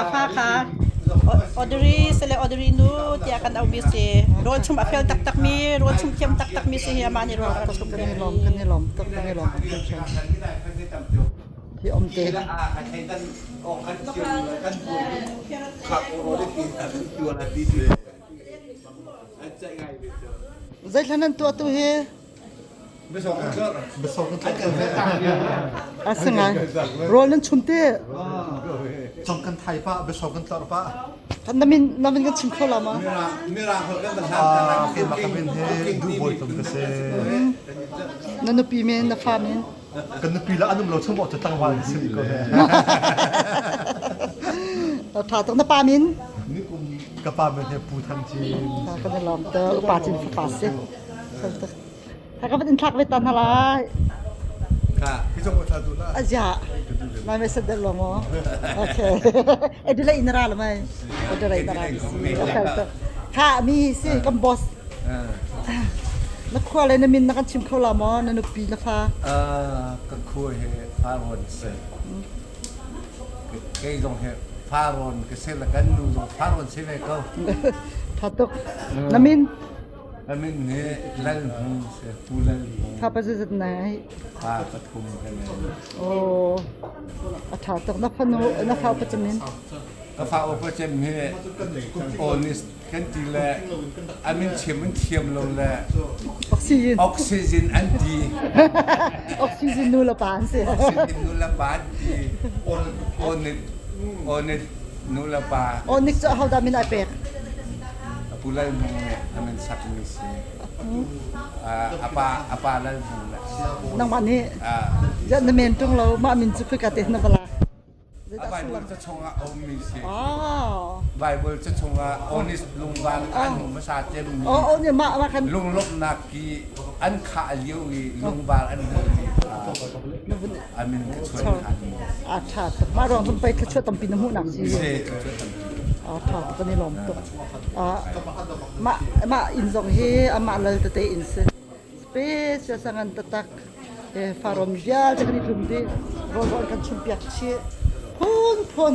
a fa kha Audrey sale Audrey nu tiah kan auhmi si rawlchum a fel taktakmi rawlchum thiam taktakmi si hi amah nih rawl a chum kan i lawm kan i lawm tak kan i lawm hi om te zeithlan nan tuah tu hi Asinain rawl nan chum te Cong kan thai pa besok kan tlor pa namin namin kan chim kho la ma mirang kho kan ah ke ma ka bin he du boi tum ka se na nupi men na fa men Kan nupi lah an um lo chung maw tlangval na si ko ne. Tha tuk na pa min? Ka pa min he Pu Than Chin. Kan na lom te upa chin pa si. Haka bat in thak ve tan hala. Ka, hi zong ka tha tu la. Azia. Mai message der lo mo. Okay. Adelaide na ra lo mai. Adelaide na ra si. Okay. Ha mi si kan boss. Na khua le na min na kan chim kho la mo na nupi na fa. Ah ka khua he faron se. Kai zong he faron ke se la kan nu zong faron se ve ko. Thatuk. Na min Thapa zazat na ai. Pa pathum kan ei. Oh. A tha tuk na fanu na fa pachamin. Ka fa upa chem hi kan polis kan ti le amin chem an thiam lo le oxygen oxygen an ti oxygen nu la pan se oxygen nu la pan ti on on on nu la pa on nik cho hau da min ai pek a pu Lal Hmung nih a min sakmi si. a pa a pa Lal Hmung le nangmah nih ziah na men ṭung lo mah min cu khika te na va la a Baibal ca chungah a ummi si. Baibal ca chungah Onis lungvar an hmasa cemmi lunglawmhnak i an khah lio i lungvar an hmuh dih. aa ṭha tuk. Mah ruang cun pei thluachuah tampi na hmuh nak ding aa ṭha tuk kan i lawm tuk. Ah, mah mah inn zong hi amah lal tete inn si. Special sangan tatak eh farom vialte kan i tlum dih. Rawl kan chumpiak chih. Phun phun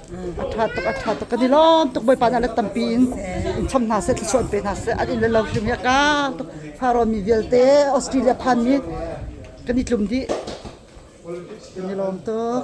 a ṭha tuk a ṭha tuk kan i lawm tuk bawipa hna le tampi in in cham hna seh thlusuan pe hna seh an in le lo hrim hi a ka tuk pharawn mi vialte Australia phan mi kan i tlum dih kan i lawm tuk